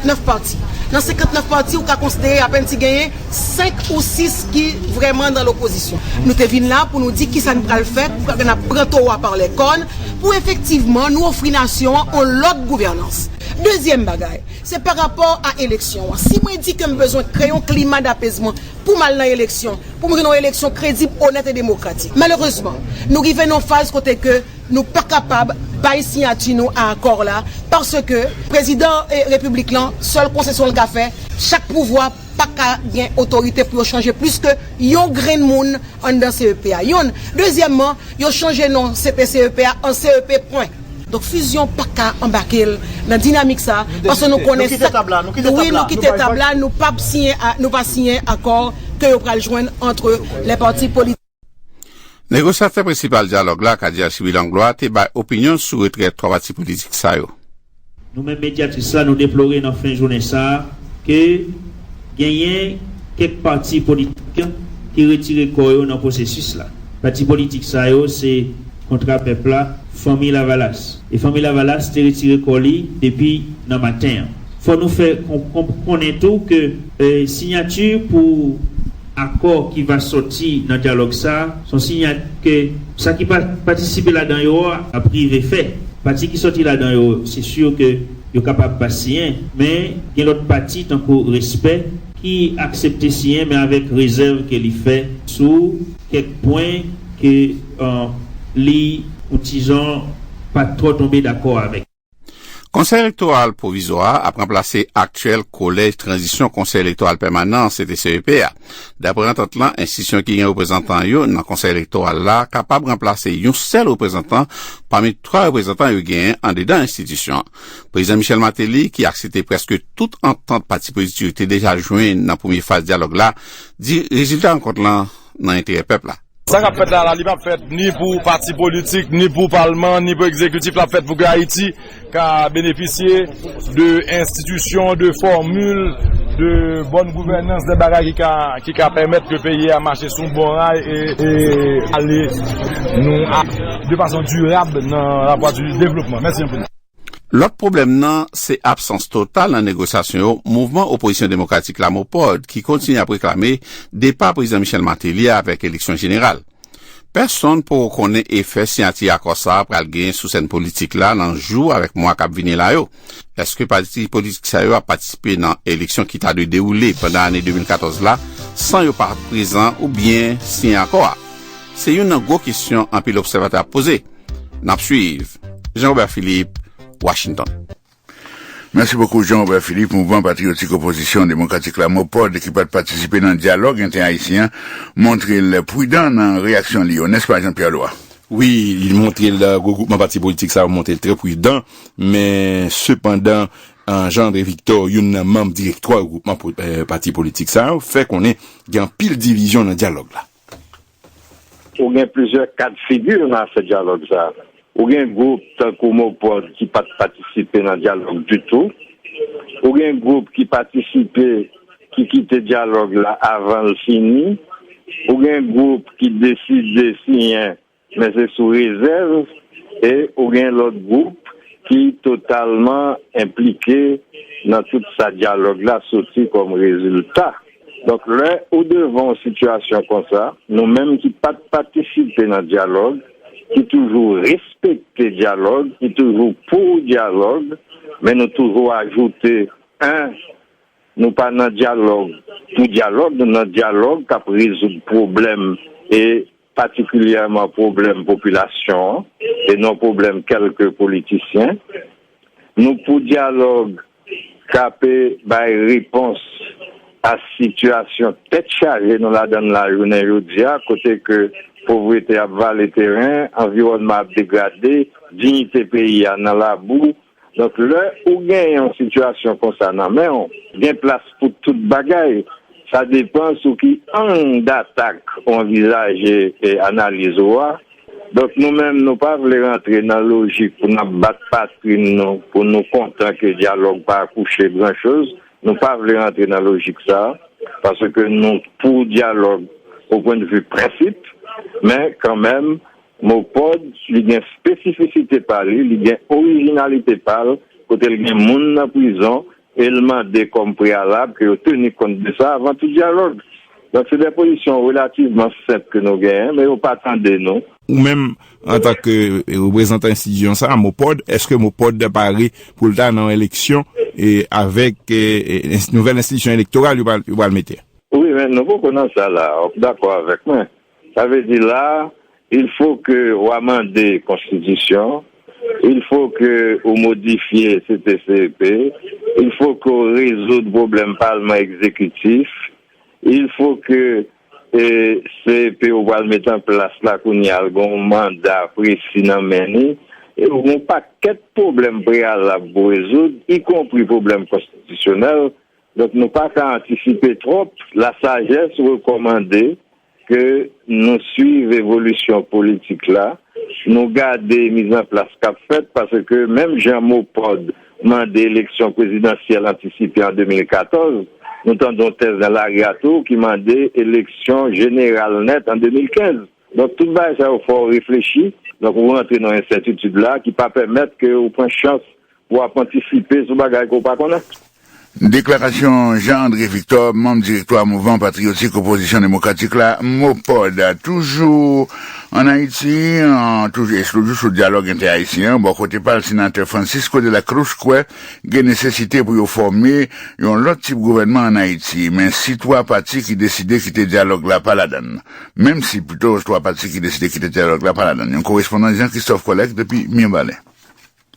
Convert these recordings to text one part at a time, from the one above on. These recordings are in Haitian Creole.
9 pati. Nan 59 pati ou ka konsidere apèn si genyen 5 ou 6 ki vrèman nan lopozisyon. Nou te vin la pou nou di kisa n pral fè pou n ap pran towa pa lè kòn pou efektivman nou ofri nasyon an on lòt gouvènans. Dezyèm bagay, se pa rapò a eleksyon an. Si mwen di ke m bezwen kreye yon klima dapezman pou m al nan eleksyon, pou m jwenn yon eleksyon kredib, onèt e demokratik. Malerezman, nou rive nan yon faz kote ke. Nou pa kapab bay siyati nou a akò la paske prezidan repiblik lan sèl konsesyon l ka fè chak pouvwa pa ka gen otorite pou yo chanje plis ke yon grenn moun anndan CEP a yonn dezyèmman yo chanje non CP CEP a an CEP pwen. Donk fizyon pa ka anbake l nan dinamik sa paske nou konnen sa wi nou kite tab la nou pa siyen akò ke yo pral jwenn antre lè pati politik. Negosyatè prensipal dyalòg la, Cadia Chibi Langlois, te bay opinyon l sou retrè 3 pati politik sa yo. Nou menm Mediatis la nou deplore nan fen jounen sa a ke genyen kèk pati politik ki retire kò yo nan pwosesis la. Pati politik sa yo se Kontra Pèp la, Fanmi Lavalas. E Fanmi Lavalas te retire kò li depi nan maten an. Fò nou fè konnen tou ke sinyati pou. Akò ki va sòti nan dyalòg sa a son sinyal ke sa ki pa patisipe ladan yo a ap rive fè. Pati ki sòti ladan yo, se sur ke yo kapab pa siyen, men gen lòt pati tankou Respè ki aksepte siyen men avèk rezèv ke li fè sou kèk pwen ke li yon ti jan pa twò tonbe dakò avèk. Konsèy Elektoral Pwovizwa a ap ranplase aktyèl Kolèj Tranzisyon Konsèy Elektoral Pèmanan, CTCEP, a. Dapre antant lan, enstitisyon ki gen reprezantan yo nan Konsèy Elektoral la kapab ranplase yon sèl reprezantan pami twa reprezantan yo genyen andedan enstitisyon an. Prezidan Michel Martelly, ki aksepte prèske tout antant pati politik yo te deja jwenn nan premye faz dyalòg la, di rezilta rankont lan nan enterè pèp la. Sa kap fèt la la li pap fèt ni pou pati politik, ni pou palman, ni pou ekzekitif lap fèt pou ke Ayiti ka benefisye de enstitisyon, de fòmil, de bòn gouvènans, de bagay ki ka pèmèt ke peyi a mache sou bon ray e ale nou a de fason dirab nan la vwa di devlopman. Mèsi anpil. Lòt pwoblèm nan se absans total nan negosyasyon yo Mouvman Opozisyon Demokratik la, Mopod, ki kontinye ap reklame depa Prezidan Michel Martelly avèk eleksyon jeneral. Pèsonn poko konnen efè siyati akò sa a pral genyen sou sèn politik la nan jou avèk mwa k ap vini la yo. Èske pati politik sa yo ap patisipe nan eleksyon ki ta dwe dewoule pandan ane 2014 la san yo pa prezan oubyen siyen akò a? Se youn nan gwo kesyon anpil obsèvatè ap poze. N ap suiv, Jean Robert Philippe, Washington. Mèsi bokou Jean Robert Philippe, Mouvman Patriyotik Opozisyon Demokratik la, Mopod, ki pat patisipe nan dyalòg entè-ayisyen an, montre l prudan nan reyaksyon li yo, nèspa Jean Pierre Loi? Wi, li montre l, gwo gwoupman pati politik sa yo montre l trè prudan, men sepandan Jean André Victor, youn nan manm direktwa gwoupman pati politik sa yo, fè konnen gen anpil divizyon nan dyalòg la. Ou gen plizyè ka de figi nan afè dyalòg sa a. Ou gen gwoup tankou MOPOD ki pa t patisipe nan dyalòg ditou. Ou gen gwoup ki patisipe ki kite dyalòg la avan l fini. Ou gen gwoup ki deside siyen Men se sou rezèv e ou gen lòt gwoup ki totalman enplike nan tout sa dyalòg la soti kòm rezilta. Donk lè ou devan yon sitiyasyon konsa, nou menm ki pa t patisipe nan dyalòg, ki toujou respekte dyalòg, ki toujou pou dyalòg, men nou toujou ajoute 1 nou pa nan dyalòg pou dyalòg, nou nan dyalòg k ap rezoud pwoblèm e patikilyèman pwoblèm popilasyon an e non pwoblèm kèlke politisyen, nou pou dyalòg kape bay repons a sitiyasyon tèt chaje nou ladan l la jounen jodi a kote ke povrete ap vale teren, anviwònman ap degrade, diyite peyi a nan labou, Donk lè ou gen yon sitiyasyon konsa nan men w, gen plas pou tout bagay, sa depan sou ki ang datak ou anvizaje analiz ou a. Donk nou menm nou pa vle rantre nan lojik pou n ap bat patrin nou pou nou kontan ke dyalòg pa akouche gran choz, nou pa vle rantre nan lojik sa a, paske nou pou dyalòg o pwendvi prensip, men kanmenm Mopod, li gen spesifisite pa li, li gen orijinalite pa l, kote l gen moun nan prizon e l mande kòm preyalab ke yo teni kont de sa avan tout dyalòg. Donk se de pozisyon relativman senp ke nou genyen, men yo pa tande nou. Ou menm, antan ke reprezantan enstitisyon sa a, Mopod, eske Mopod pare pou l ta nan yon eleksyon avèk nouvèl enstitisyon elektoral yo pral mete a? Wi, men nou poko nan sa la a. Ou dakò avèk mwen? Sa vle di la, il faut ke ou amande konstitisyon, il faut ke ou modifye CTCEP, il faut ke ou rezoud pwoblèm palman ekzekitif, il faut ke CEP ou pral met an plas la kounye a, l gen yon manda presi nan men li, e ou gen yon pakèt pwoblèm preyalab pou rezoud, ikonpri pwoblèm konstitisyonèl, Donk nou pa ka antisipe twòp. Lasajès rekòmande ke nou suiv evolisyon politik la, nou gade mizanplas k ap fèt paske menm jan MOPOD mande eleksyon prezidansyèl antisipe an 2014, nou tande yon tèz nan lari a tou ki mande eleksyon jeneral nèt an 2015. Donk tout bagay sa yo fè w reflechi. Donk ou rantre nan yon ensètitid la ki pa pèmèt ke ou pran chans Ou ap antisipe sou bagay ke w pa konnen. Deklarasyon Jean André Victor, manm direktwa Mouvman Patriyotik Opozisyon Demokratik la, MOPOD. Toujou ann Ayiti, toujou eksklouzif sou dyalòg entè-ayisyen an, bò kote pa l, senatè Francisco de la Cruz kwè gen nesesite pou yo fòme yon lòt tip gouvènman ann Ayiti. Men si 3 pati ki deside kite dyalòg la pa ladan l. Menm si, pito, 3 pati ki deside kite dyalòg la pa ladan l. Yon korespondan Jean Christophe Collègue depi Mirbalè.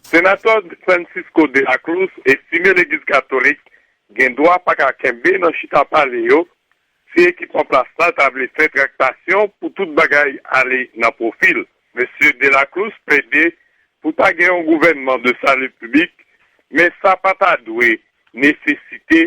Senatè Francisco de la Cruz estime legliz katolik gen dwa pa ka kenbe nan chita pale yo si ekip an plas la ta vle fè traktasyon pou tout bagay ale nan pwofi l. Mesye de la Cruz plede pou ta gen yon gouvènman de salut public men sa pa ta dwe nesesite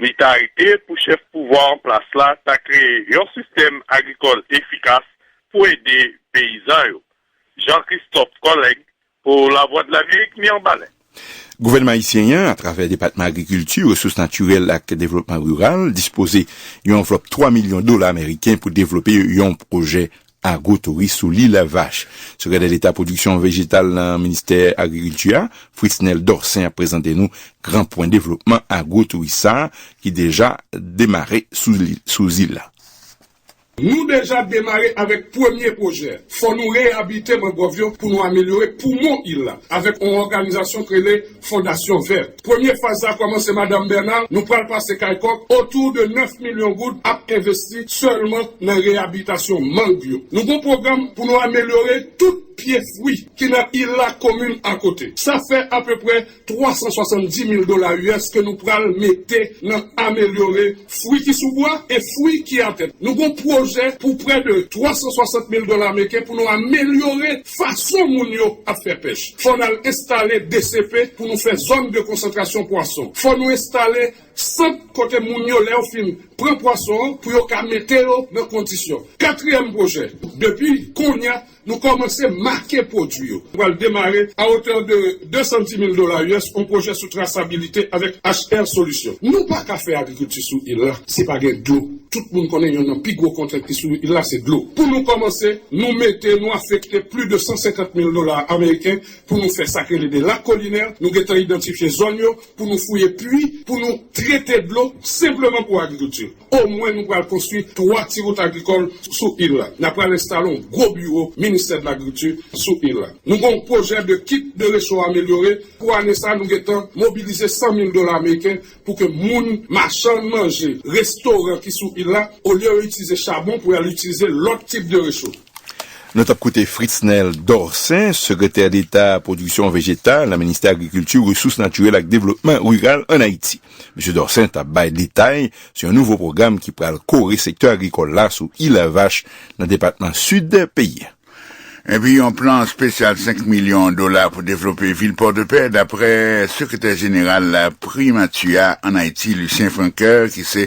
Li ta rete pou chèf pouvwa an plas la ta kreye yon sistèm agrikòl efikas pou ede peyizan yo. Jean Christophe Collègue pou Lavwadlamerik Mirbalè. Gouvènman ayisyen an, atravè Depatman Agrikilti, Resous Natirèl ak Devlopman Riral, dispoze yon anvlòp 3 milyon dola meriken pou devlope yon pwojè Agwotouris sou Lil Avach. Sekretè Deta Pwodiksyon Vejetal nan Ministè Agrikilti a, Fritznel Dorcin ap prezante nou gran pwen devlopman agwotouris sa ki deja demare sou zil la. Nou deja demare avèk premye pwojè, fò nou reyabilite mangròv yo pou nou amelyore poumon il la avèk on òganizasyon k rele Fondasyon Vèt. Premye faz la kòmanse Madam Bernard, nou pral pase kay kòk, otou de 9 milyon goud ap envesti sèlman nan reyablitasyon mang yo. Nou gon pwogram pou nou amelyore tout pye fwi ki nan il la komin akote. Sa fè apeprè 370 mil dola US ke nou pral mete nan amelyore. fwi ki sou bwa e fwi ki atè. Nou gon pwojè pou prè de 360 mil dola meken pou nou amelyore fason moun yo ap fè pèch. Fò n al enstale DCP pou nou fè zòn de konsantrasyon pwason. Fò nou enstale sant kote moun yo lè yo fin pran pwason an pou yo ka mete yo nan kondisyon. Katriyèm pwojè, depi kounye a Nou kòmanse make pwodui yo. Nou pral demare a otè de 210 mil dola us yon pwojè sou trasabilite avèk HR Solution. Nou pa ka fè agrikilti sou il la si pa gen dlo. Tout moun konnen yonn nan pi gwo kontrent ki sou il la se dlo. Pou nou kòmanse, nou mete, nou afekte pli de 150 mil dola ameriken pou nou fè sa k rele de lac collinaire. Nou gentan idantifye zòn yo. pou nou fouye pwi pou nou trete dlo senpleman pou agrikilti. Omwen nou pral konstwi 3 ti wout agrikòl sou il la. Na pral enstale yon gwo biwo ministè de lagrikilti sou il la. Nou gen yon pwojè de kit de recho amelyore, pou ane sa nou gentan mobilize 100 mil dola ameriken pou ke moun, machann manje, restoran ki sou il la, olye yo itilize chabon pou yal itilize lòt tip de recho. Nou t ap koute Fritznel Dorcin, Sekretè Deta Pwodiksyon Vejetal nan Ministè Agrikilti, Resous Natirèl ak Devlopman Riral ann Ayiti. Mesye Dorcin t ap bay detay sou yon nouvo pwogram ki pral kore sektè agrikòl la sou Île-à-Vache nan depatman Sid peyi a. Epi yon plan espesyal 5 milyon dola pou devlope vil Pòdepè, daprè Sekretè Jeneral Primati a ann Ayiti, Lucien Francoeur, ki se.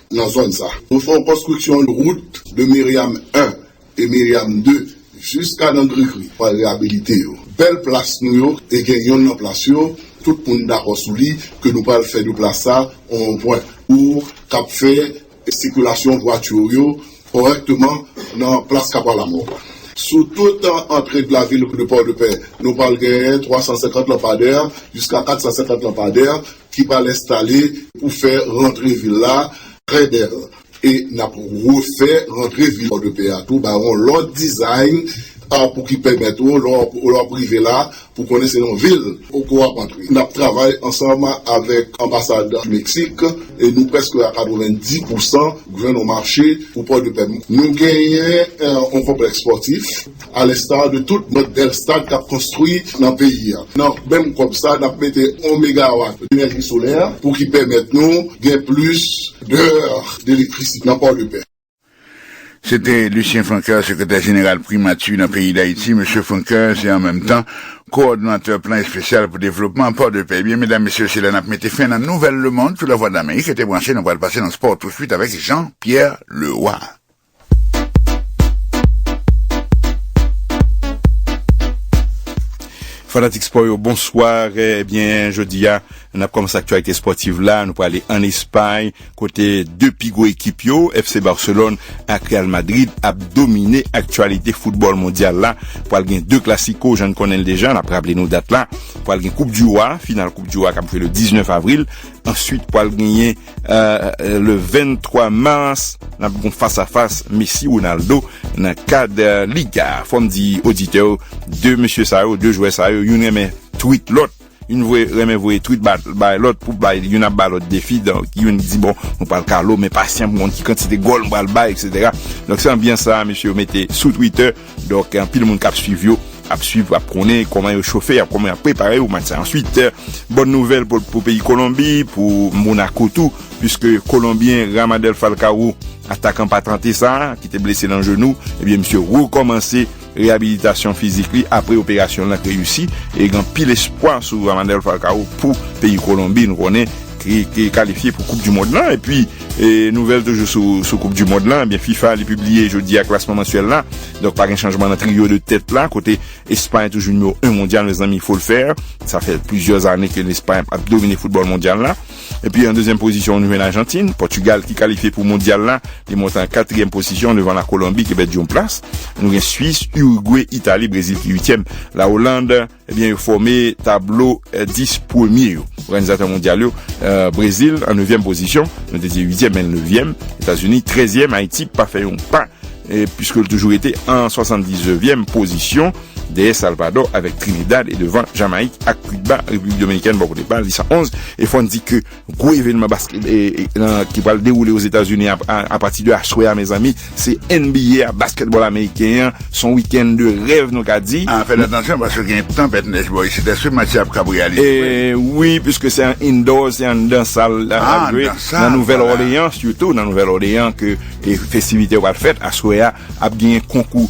nan zòn sa. Nou fè yon konstriksyon wout de Miriam 1 e Miriam 2 jiska nan Grigri pou al reyabilite yo. Bèl plas nou yo e gen yonn nan plas yo tout moun dakò sou li ke nou pral fè de plas sa yon wonpwen pou kap fè sikilasyon vwati yo kòrèkteman nan plas Kapwa Lamò. Sou tout antre de lavil de Pòdepè nou pral genyen 350 lanpadè jiska 450 lanpadè ki pral enstale pou fè rantre vil la trè bèl e n ap refè rantre vil Pòdepè a tou ba ou yon lòt design pou ki pèmèt ou lè w ap rive la pou konnen se yon vil ou ke w ap antre. N ap travay ansanm avèk anbasad Meksik e nou prèske a 90 pousan jwenn yon mache pou Pòdepè. Nou genyen yon konplèks spòtif. A l'instar de tout lòt bèl stad kap konstwi nan peyi a, nan menm kòb sa nap mete 1 megawatt d'energie solaire pou ki pèmèt nou gen plis d'heures d'electricité nan port de paix. Se te Lucien Francoeur, sekretè jeneral Primati nan peyi Dayiti. Mesye Francoeur se an menm tan kowòdonatè plan espesyal pou devlopman pò de pè. Ebyen, medam, mesye, se la n ap mete fen nan Nouvèl Lemond sou Lavwadlamerik. Rete branche, nou pral pase nan spò touswit avèk Jean Pierre Leroy. Fanatik spò yo, bonswa. Ebyen, eh jodi a, n ap kòmanse aktyalite spòtiv la. Nou prale an Espay, kote 2 pi gwo ekip yo, FC Barcelone ak Real Madrid, ap domine aktyalite foutbòl mondyal la. Pral gen 2 klasiko, jan n konnen l deja, n ap raple nou dat la. Pral gen koup di wa, final koup di wa k ap jwe le 19 avril. Answit, pral genyen. le 23 mars nan pou kon fas a fas Messi Ronaldo nan kad Liga fòm di oditè ou 2 mesye sa yo 2 jwè sa yo yon renmen tweet lòt yon vwe renmen vwe tweet bat bay lòt pou bay yon ap bay lòt defi donk yon di bon mwen pral kalo men pasyan mwen ki kantite gòl mwen pral bay etc donk se anbyan sa mesye ou mete sou twitter Donk anpil moun kap swiv yo ap swiv ap konnen kòman yo chofe ap kòman yap prepare yo match sa answit bòn nouvèl pou peyi kolonbi pou monako tou pwiske kolonbyen ramadel falkawou atakan patante sa ki te blese nan jenou ebyen misye rekòmanse reyabilitasyon fizik li apre operasyon lan reyisi e gen anpil espwa sou ramadel falkawou pou peyi kolonbi nou konnen ki kalifye pou koup di mond lan epi Nouvèl toujou sou koup du mond lan, ebyen fifa li pibliye jodi a klasman mansyèl la, donk pa gen chanjman nan trio de tèt la kote espay toujou nimewo 1 mondyal mezanmi il fo l fè, sa fè plizyè zane ke lespay ap domine foutbòl mondyal la, epi an dezyèm pozisyon nou jwenn ajantin, pòtugal ki kalifye pou mondyal la li monte an katriyèm posisyon devan la kolonbi ki pèdi yon plas, nou gen swis, urigwe, itali, brezil ki uityèm, la oland. Ebyen yo fòme tablo 10 premye yo. Òganizatè mondyal yo, Brezil an nevyèm pozisyon, nou te di uityèm men nevyèm, Etazini trèzyèm, Ayiti pa fè yon pa piske l toujou rete an swasanndiznevyèm pozisyon dèyè Salvadò avèk Trinidad e devan Jamayik ak Kiba, Repiblik Dominikèn bò kote pa l li 111 e fò n di ke Gwo evenman basket ki pral dewoule Ozetazini a pati de aswè a mezanmi se NBA a basketball ameriken an son weekend de rèv nou ka di. A fèt atansyon paske gen tanpèt nèj bò isit èske match la ap kab reyalize vre? Wi piske se an indoor se anndan sal lap jwe nan Nouvèl Orleyan sitou nan Nouvèl Orleyan ke festivite yo pral fèt aswè a ap genyen konkou.